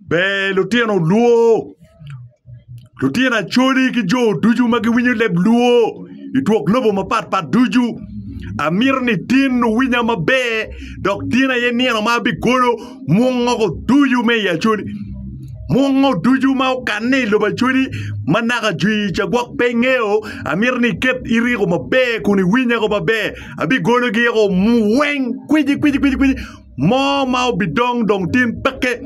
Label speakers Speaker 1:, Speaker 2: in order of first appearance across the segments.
Speaker 1: Ber lutino luo, lutino Acholi ki jo ducu ma giwinyo leb luo i twok lobo mapat pat ducu. Amito ni tin wuwinya maber dok tin aye nino ma abigolo mwongo ducu me i Acholi. Mwongo ducu ma okanne i lobo Acholi ma naka jwi ca gwok pe ingeyo, amito ni iket iriko maber kun iwinyago maber. Abigologi oko weng kwiji kwiji kwiji kwiji. Mo ma obidong dong tin peke.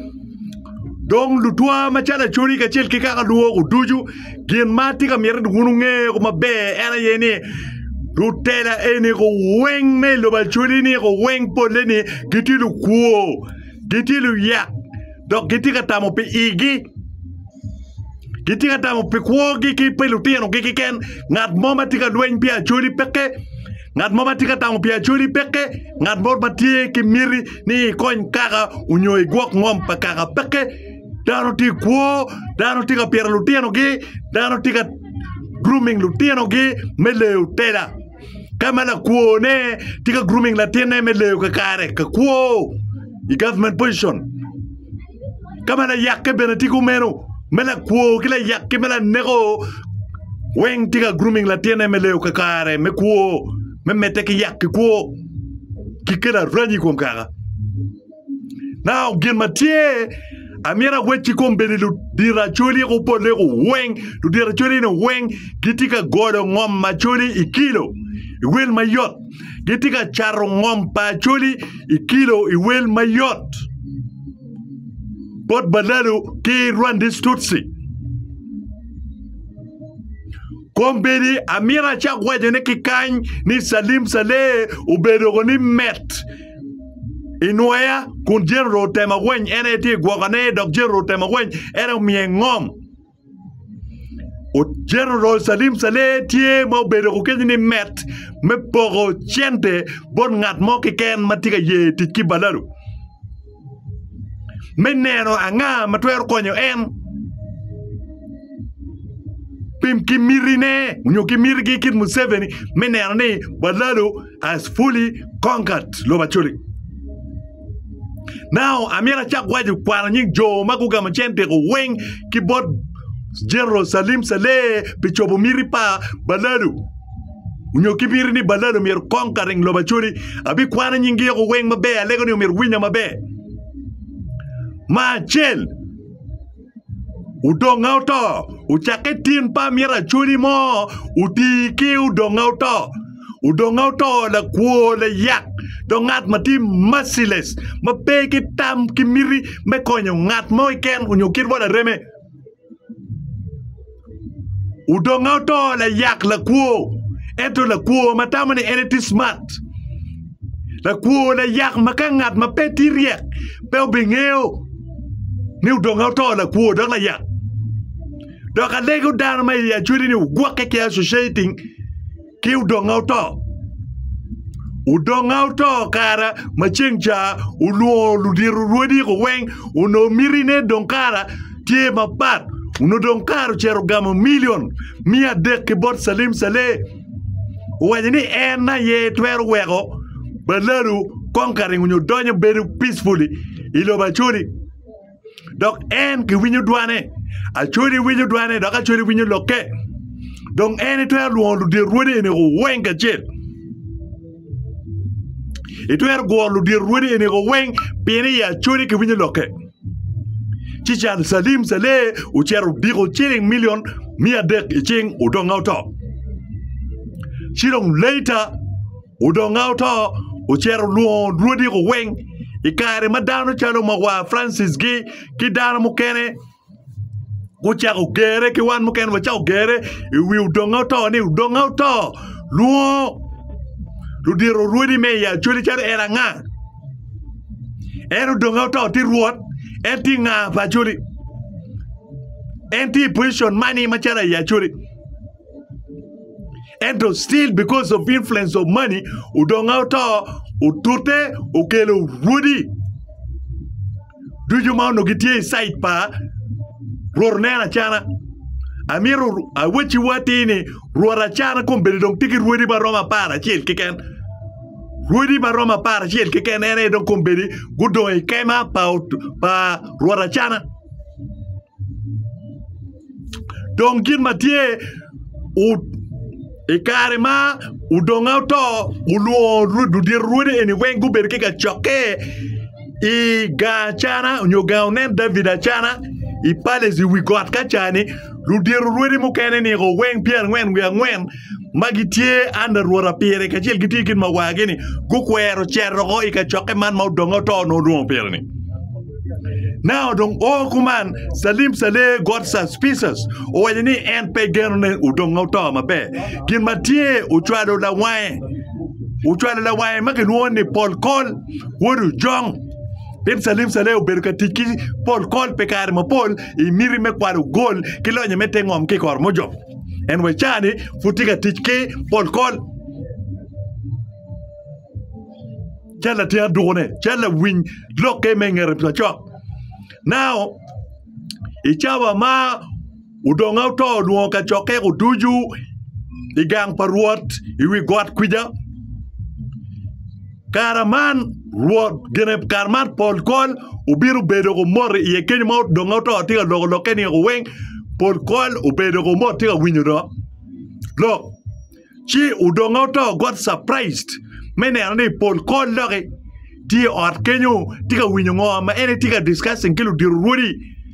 Speaker 1: Dong lutwa macalo acoli kacel ki kaka lwoko ducu gin ma atye ka miti ni wun wunge ko maber en aye ni lutela eni ko weng me lobo acoli ni ko weng pole ni gitye lukwo gitye luyak dok gitye ka tamo pi igi gitye ka tamo pi kwogi ki pi lutinogi keken ngat mo ma tye ka lweny pi acholi peke ngat mo ma tye ka tamo pi acholi peke ngat mo ma tye ki miti ni ikony kaka onyo igwok ngom pa kaka peke dano tye kwo dano tye ka pito lutinogi dano tye ka grooming lutinogi me leyo tela. ka ma lakwone tye ka grooming latinne me leyo kakare ka kwo i government position ka ma layakke bene tye kumeno me lakwo ki layakke me laneko weng tye ka grooming latinne me leyo kakare me kwo me medde ki yak ki kwo ki kelo aranyi i kom kaka. Now, gin ma tye amyero awec ki kom bene ludiracoli kupolle ku weng ludiracoli ni weng gitye ka golo ngom ma coli i kilo i wel mayot gitye ka cato ngom pa coli i kilo i wel mayot bot balalu ki rwandis tutsi kombedi amyero acak waco ni kikany ni salim saleh obedo ko ni met i nwoya kun Jericho otema weny en aye tye i gwokane dok Jericho otema weny en omiye ngom Jericho Salim Saleh tye ma obedo ko kenyo ni met me poko cente bot ngat mo keken ma tye ka ye tic ki balalu me neno anga ma twero konyo en pim ki mitine nyo ki mitigi kit Museveni me neno ni balalu has fully conquered lobo Acholi. Now, amyero acak waco kwano nying jo ma gugamo cen teko weng ki bot General Salim Saleh pi cobo miti pa Balalu onyo ki miti ni Balalu myero conquering lobo Acholi. Abi kwano nying gi yoko weng maber, alego ni omyero winya maber. Ma acel, Odonga oto, ocakke tin pa myero acwali mo oti ki odonga oto. Odonga oto lakwo layak dok ngat ma tye merciless ma pe ki tam ki miti me konyo ngat mo keken nyo kit wa lareme. Odonge oto layak lakwo, ento lakwo ma tamo ni en tye cimat. Lakwo layak ma ka ngat ma pe tye ryek pe obingeyo ni odonge oto lakwo dok layak. Dok alego dano ma i Acholi ni ogwokke ki associating ki udonga oto udonga oto kara ma ceng ca olwongo ludito rwodiko weng onongo miti ne dong kara tye mapat onongo dong kara ocito gamo milion miya adek ki bot calim caleh owaco ni en aye twero weko baladu kong karingo nyo donyo bedo peacefully ilobo acholi dok en kiwinyo dwane. Acodi winyo dwane dok acodi winyo lokke. Dong en itwero lwongo ludyer rwodi eni weng kacel. Itwero gworo ludyer rwodi eni weng pien i acodi kiwinyo lokke. Ci cal Salim Saleh ocito odiko ciling milion miya adek i cing odonga oto. Ci dong later Odonga oto, ocito olwongo rwodiko weng i kare ma dano calo mawa Francis gi ki dano mukene gucako gere ki wan mukene wacako gere i wi odonga oto ni odonga oto lwongo ludito rwodi me i Acholi calo en anga? En odonga oto ti rwot? En ti nga pa Acholi? En ti i pocicon mani macalo i Acholi? ento still because of influence of money odonge oto otute okelo rwodi ducu ma onongo gitye i cid pa rwot oneno acana amito awacciwu atir ni rwot acana kombeddi dong tye ki rwodi ma romo apar acel keken rwodi ma romo apar acel keken en aye dong kombeddi gudong i kema pa rwot acana. Dong gin ma tye i kare ma odongnga oto olwongo ludito rwodi eni weng gubedo ki kacokke i gang acana nyo gang onen David acana i palace i wi got ka ca-ni ludito rwodi mukene-ni weng pyerangwen wiye angwen ma gitye anda rwota pire kacel ki tye kit ma wagini gukwero cero ko i kacokke man ma odonge oto onongo odwongo pire-ni. Nao dong o kuman Salim Saleh got suspicious owaco ni en pe geno ni odonge oto maber. Gin ma tye ocwalo lawange ocwalo lawange ma kilwongo ni Paul Kol wod Ojong pien Salim Saleh obedo ka tic ki Paul Kol pi kare mapol i miti me kwalo gol ki lonye me te ngom ki i Koromojo. En wa cani pud tye ka tic ki pol kol. Cal latin adukone, cal lawiny lokke me ngete pa cok. Nao i cawa ma odonga oto olwongo ka cokke oducu i gang pa Rwot i wi got kwica. Kare man Rwot gine kare man pol kol obino bedo ko mot iye kenyo ma odonge oto tye ka loko lokke ni ko weng pol kol obedo ko mot tye ka winyo dok lok ci odonge oto got surprised me neno ni pol kol doki tye i ot kenyo tye ka winyo ngo ma en tye ka discussing ki ludito rwodi.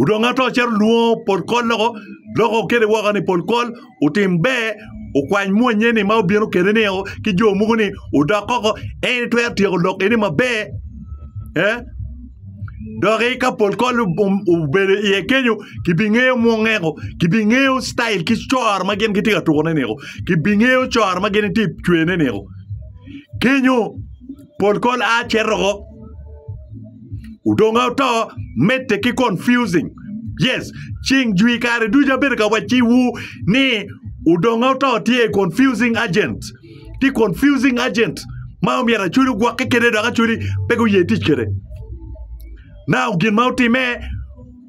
Speaker 1: Odong ato cito lwongo pol kol loko loko okele woko ni pol kol otim ber okwany mwonye ni ma obino kele ni o ki jo mogo ni odok koko en itwero tyeko lok eni maber eh doki ka pol kol obedo iye kenyo kibingeyo mwongeko kibingeyo citail ki coro ma gin gitye ka tukone ni o kibingeyo coro ma gin itye cwerone ni o kenyo Pol kol a cito oko. Odongo to medde ki confusing. Yes, ceng jwi kare ducu abedo ka wacciwu ni odongo to tye i confusing agent. Ti confusing agent ma omyero aculi gwokke kede dok aculi pe guye tic kede. Now gin ma otime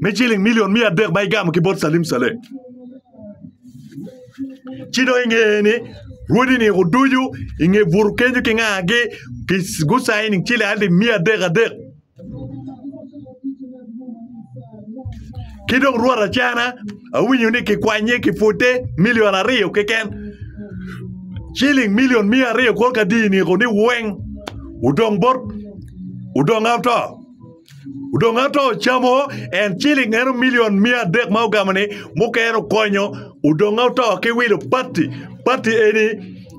Speaker 1: me ciling milion miya adek ma igamo ki bot Salim Saleh. Ci dong ingeye ni rwodi ni kuducu inge butu kenyo ki ngagi ki gusayi ni ciling alip miya adek adek. Ki dong rwot acana awinyo ni kikwanye kipute milion aryo keken. Ciling milion miya aryo kor ka di ni ni weng udong bot udong auto. Odong ato ocamo en ciling eno milion mia adek ma ogamo ni mukene okonyo odong oto ki wilo pati pati eni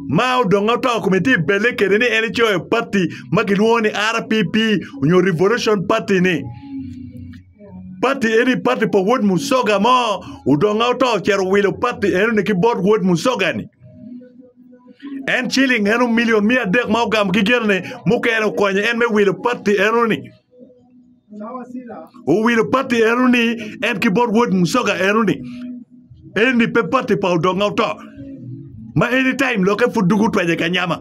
Speaker 1: ma odong oto kome tye belle kede ni en ecoyo pati ma kilwongo ni RPP onyo revolution pati ni pati eni pati pa wod musoga mo odong oto ocito owilo pati eno ni ki bot wod musoga ni En ciling eno milion miya adek ma ogamo ki genne mukene okonyo en me wilo patti enoni. Owilo patti enoni en ki bot wod musoga enoni. Eni pe patti pa odonga oto. Ma anytime loke pud dugu twenye kanyama.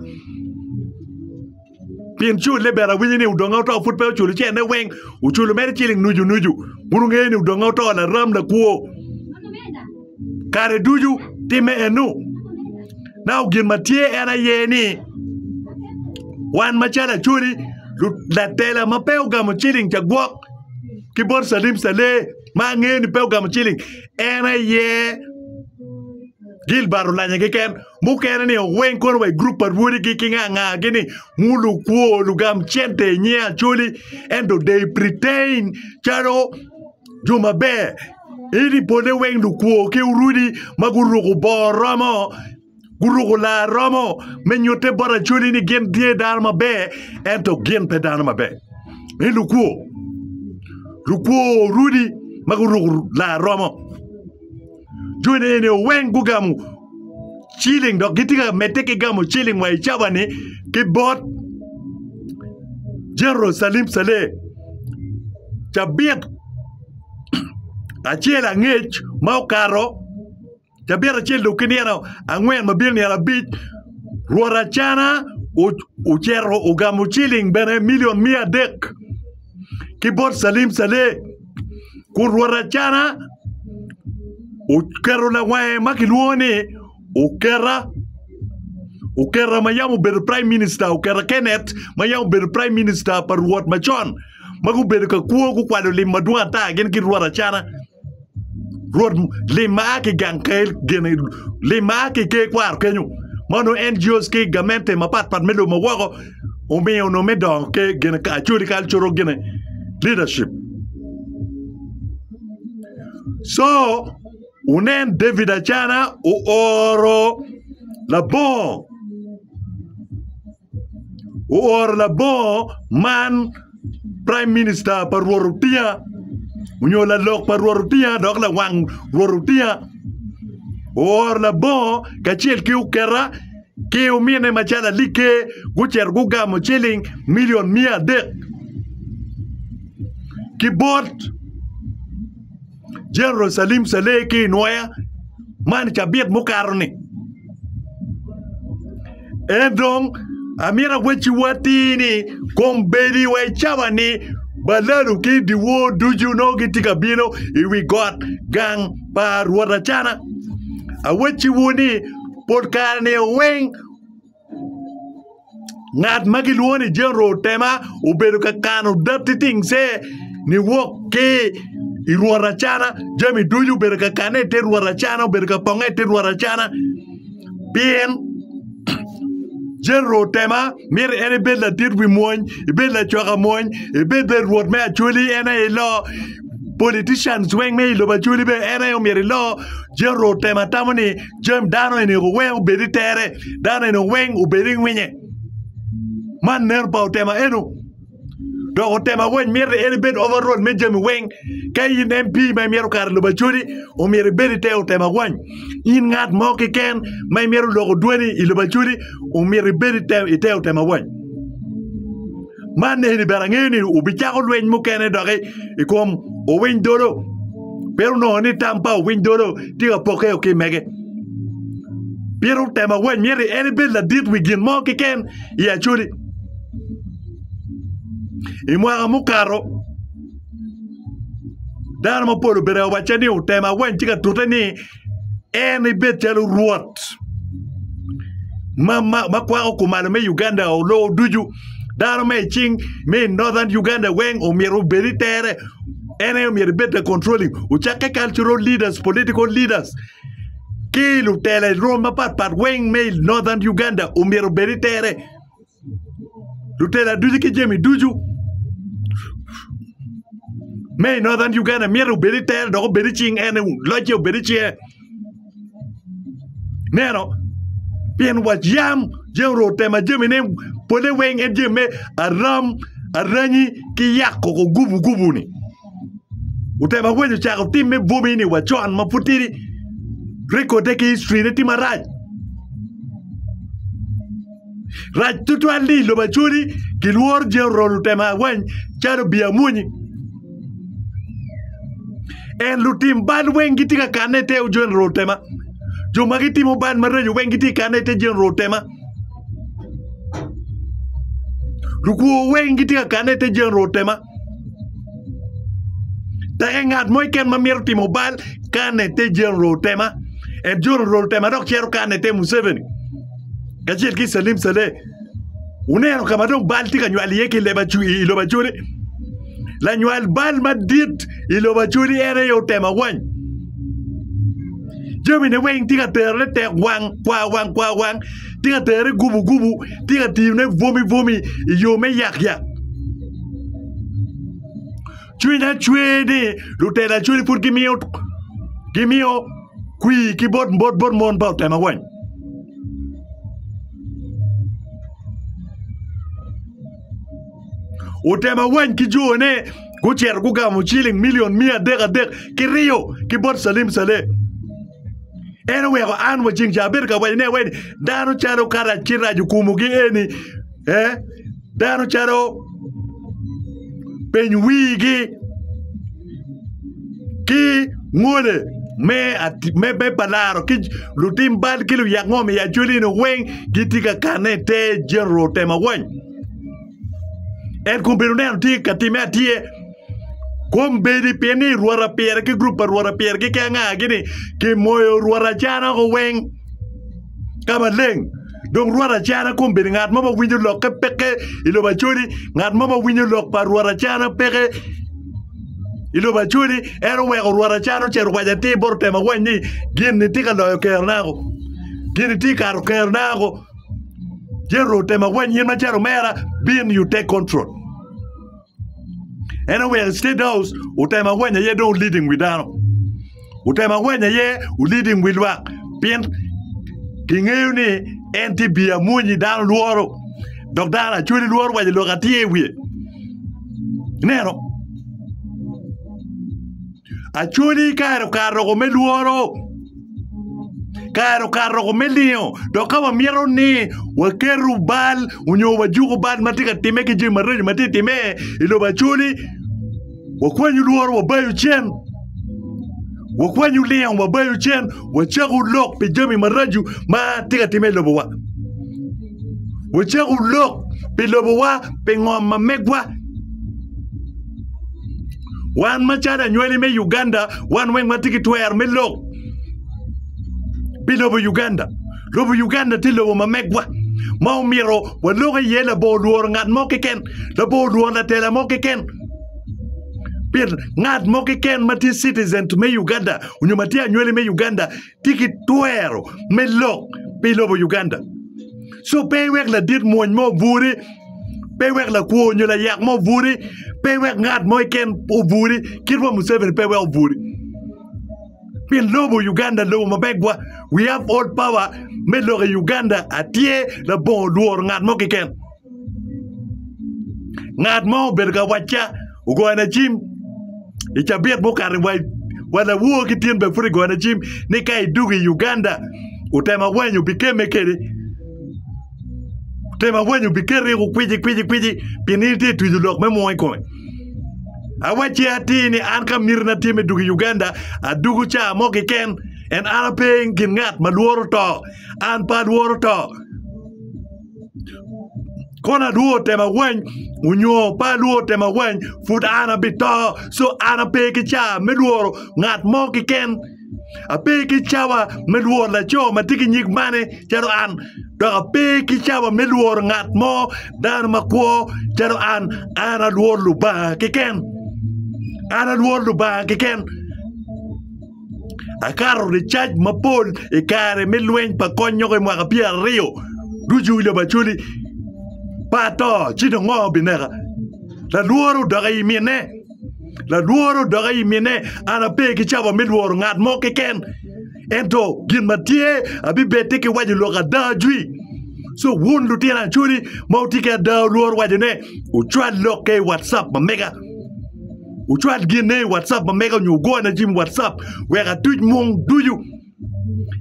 Speaker 1: Pien cul ni bene awinyo ni odonga oto pud pe oculo cene weng, oculo mere ciling nucu nucu. Wun wungeyo ni odonga oto laram lakwo kare ducu timme enu. Nao gin ma tye en aye ni wan macalo acoli latela ma pe ogamo ciling ca gwok ki bot calim calee ma angeyo ni pe ogamo ciling en aye Gilbert Olanya keken. mukene ni oweng kono wa i grup pa rwodigi ki nga nga gi ni ngu lukwo lugam cente i nye acoli ento they pretain calo jo maber ini pole weng lukwo ki urudi ma guruku bor romo guruku lar romo me nyute bot acoli ni gin tye dano maber ento gin pe dano maber i lukwo lukwo rudi ma guruku lar romo Jo eni eni weng gugamo ciling dok gitye ka medde ki gamo ciling wa icabani ki bot Jerucalem calem cabit acel angec ma okato cabit acel dong ki nino angwen ma bino nino abic rwot acana ocito ogamo ciling bene milion miya adek ki bot calim calem. Kun rwot Acana oketo lawange ma kilwongo ni Oketa Oketa ma yam obedo praim minista Oketa Kenet ma yam obedo praim minista pa rwot macon ma gubedo ka kwo gukwalo lim madwong ata gin ki rwot Acana rwot lim ma a ki gang kel gene lim ma a ki ker kwaro kenyo ma onongo NGOs ki gamente mapatpat me lobo ma woko omiyo onongo me dongo ki gin actually kal coro gine leadership so wunen David Acana ooro labongo ooro labongo man Praim Minista pa Rwot Otiya onyo lalok pa Rwot Otiya dok lawang Rwot Otiya ooro labongo kacel ki oketa ki omine macalo alik ker gucito gugamo ciling milion miya adek ki bot General Salim Saleh ki i Nwoya man i cabit mukato-ni. En dong amito awecci atir ni kombeddi wa i cawa ni balalu ki dyewor ducu nongo gitye ka bino i wi got gang pa Rwot Acana. Awecciwu ni pol kare-ni weng Ngat ma kilwongo ni General Otema obedo ka kano datti tingce niwok ki i rwot acana. Jami ducu obedo ka kanne i te rwot acana, obedo ka ponge i te rwot acana pien General Otema miti en ibed ladit wi mwony, ibed lacoka mwony, ibed bene rwot me Acholi en aye ilo, politicians weng me i lobo Acholi bene en aye omyero ilo. General Otema tamo ni. Jami dano eni weng obed i tere, dano eni weng obed i ngwinye. Man nen pa otema eno. Dok otema weng myero en ibed overall me jami weng. Ka in MP ma imyero kare lobo acoli, omyero ibed i te otema weng. In ngat mo keken ma imyero loko dwani i lobo acoli, omyero ibed i te otema weng. Man eni bene angeyo ni wubicako lweny mukene doki i kom owiny dolo. Pien onongo ni tam pa owiny dolo tye ka pokke o ki mege. Pien otemo awany myero en ibed ladit wi gin mo kiken i Acoli. I mwaka mukato, dano mapol obedo ka wacca ni otemo awany tye ka tute ni en ebed calo Rwot ma kwako kumalo me Uganda o lowo ducu. Dano me i cing me i Northern Uganda weng omyero obed i tere. En aye omyero ebed the controlling. Ocakke cultural leaders, political leaders ki lutela i rwom mapatpat weng me i Northern Uganda omyero obed i tere. lutela ducu ki jami ducu me i Northern Uganda myero obed i tere dok obed i cing en locce obed i cinge neno pien wa yam jami orwo tema jamine pole weng en jami me aram aranyi ki yako ko gubu gubu-ni otemo aweco cako tim me bwomi-ni wa con ma pud tidi rekode ki hictorine tye marac Rac tutwal ni i lobo acwali kilworo jero lutemo awany calo obi amwonyi. En lutim bal weng gitye ka kanne i te jero lutema. Jo ma gitimo bal maraco weng gitye ka kanne i te jero lutema. Lukwo weng gitye ka kanne i te jero lutema. Teke ngat mo iken ma mito timo bal kanne i te jero lutema. En jero lutema dok cero kanne i te Museveni. kacel ki i Calim Caleh, wuneno ka ma dong bal tye ka nywal iye ki i lobo acoli. Lanywal bal madit i lobo acoli en aye otemo awany. Jamine weng tye ka terone tek wang, kwa wang, kwa wang, tye ka tere gubu gubu, tye ka tiyone bwomi bwomi i yo me yak yak. Cwinya cwe ni lutela cwele pud gimiyo gimiyo kwi ki bot bot bot mon pa otema weng. Otema weng ki jone gucito gugamo ciling milion miya adek adek ki riyo ki bot Salim Saleh. En oweko an wa ceng ca abedo ka waco ne weni dano calo kara ci rajo kumu gi eni eh dano calo peny wigi ki ngole me me me palaro ki lutim bal ki luyak ngom i acweli ni weng giti ka kane i te general tema weng en kun bedo neno tye ka time atye Kombeddi pi ni rwot apire ki gurup pa rwot apire keken a gini kimoyo rwot acana oko weng ka maleng dong rwot acana kombeddi ngat mo ma winyo lokke peke i lobo acoli ngat mo ma winyo lok pa rwot acana peke i lobo acoli en oweko rwot acana ocito owaco atir bot otemo awany ni gin-ni tye ka loyo kerona oko gin-ni tye ka kato kerona oko Jericho otemo awany in macalo omera bin you take control. En oweko i State House otemo awenya aye dong leading wi dano. Otemo awenya aye leading wi lwak pien kingeyo ni en tye biye amwonyi dano lworo dok dano lacwali lworo waco lok atye i wiye. Ineno? Acwali kare okato oko me lworo, kare okato oko me lingo. Dok ka wamito ni waketo bal onyo wajuko bal ma tye ka timme ki jami mareco ma tye ka timme i lobo Acwali, wakwanyo lworo wabayo cen, wakwanyo lingo wabayo cen, wacako lok pi jami maraco ma tye ka timme i lobowa, wacako lok pi lobowa, pi ngom ma megwa. Wan macalo anywali me Uganda wan weng watye ki twero me lok pi lobo Uganda. Lobo Uganda tye lobo ma megwa ma omito walok iye labor lworo ngat mo keken, labor lworo latela mo keken. Pien ngat mo keken ma tye citizens me Uganda onyo ma tye anywali me Uganda tye ki twero me lok pi lobo Uganda. So pe iwek ladit mwony mo oburi, pe iwek lakwo nyo layak mo oburi, pe iwek ngat mo iken oburi, kit wa Museveni pe iwek oburi. Pien lobo Uganda lobo mabegwa, we have all power me lok i Uganda atye labongo lworo ngat mo kiken. Ngat mo obedo ka wacca ogona cim i cabit mukati wa lawo ki tyen bene pud kigona cim ni ka idug i Uganda otemo awanyu bikemme kede otemo awanyu bikeri i kukwici kwici kwici pi nini tye twico lok me mwongo i kome awacci atir ni an ka miti na tye me dug i Uganda adugu caa mo kiken en an ape i kin ngat ma lworo to an pe alworo to kono adwogo otema weng onyo pe adwogo otema weng pud an abito co an ape ki cawa me lworo ngat mo keken ape ki cawa me lworo laco ma tye ki nyig mane calo an dok ape ki cawa me lworo ngat mo dano makwo calo an an alworo Lubanga keken an alworo Lubanga keken. Akato ricac mapol i kare me lweny pa kony nyoka i mwaka pyeraryo ducu i lobo Acholi. Pa ato, ci dong ngo bineka? Lalworo odok i mine. Lalworo odok i mine. An ape ki cabo me lworo ngat mo keken. Ento gin ma tye abibedde ki waco lok ada ajwi. So wun lutino Acholi ma wutye ki ada wulworo wacone, wucwal lok-ke i watcap ma mega. Wucwal ginna i WhatsApp ma mega nyo wugona jami i WhatsApp wek atuc mung ducu.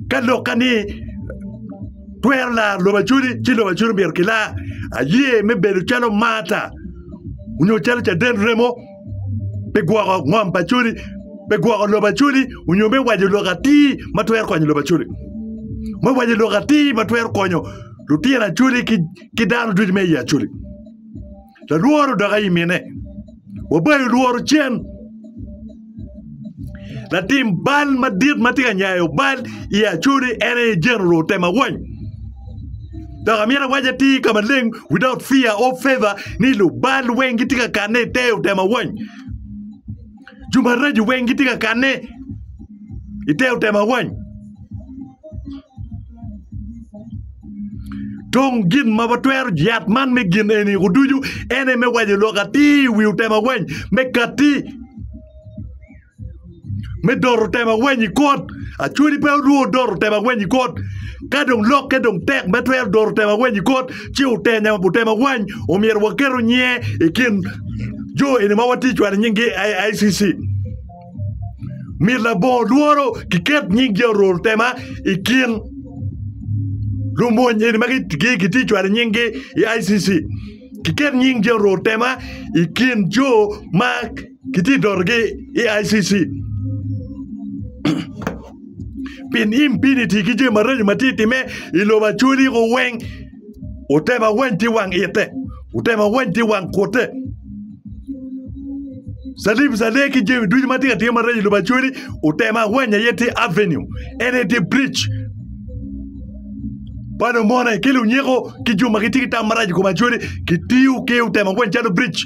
Speaker 1: Ka lok ka ni twero laro lobo acodi ci lobo acodi myero kilar. Aye me bedo calo Marta onyo calo caden remo me gwoko ngom pa acodi, me gwoko lobo acodi onyo me waco lok atir ma twero konyo lobo acodi. Me waco lok atir ma twero konyo lutino acodi ki dano ducu me i acodi. Lalworo dok aye mine. Wabayo lworo cen. Latim bal madit ma tye ka nyayo bal i Acholi en aye General Otema Wany. Dok amyero awac atir ka maleng without fear or favor ni lubal weng gitye ka kanne i te Otema Wany. jo maraco weng gitye ka kanne i te otema wany. Tong gin ma watwero yat man me gin eni kuducu ene me waco lok atir i wi otema wany me katti me doro otema wany i kot. Acwali pe orwo doro otema wany i kot. Ka dong lokke dong tek me twero doro otema wany i kot, ci otenya otemo awany omyero waketo nyinge i kin jo eni ma watye cwalo nyingi ICC myero labongo lworo kiket nying Jenerol Tema i kin lumony eni ma kitye cwalo nyingi i ICC kiket nying Jenerol Tema i kin jo ma kitye dotogi i ICC. pi impiniti ki jami maraco ma tye ka timme i lobo Acholi ko weng otema weng tye wang ite otema weng tye wang kutte calim calem ki jami ducu ma tye ka timme i lobo Acholi otema weng aye tye aveniu en aye tye biric pa lumone ki lunyeko ki jo ma gitye ki tam marac i kom Acholi kitiyo ki otema weng calo biric.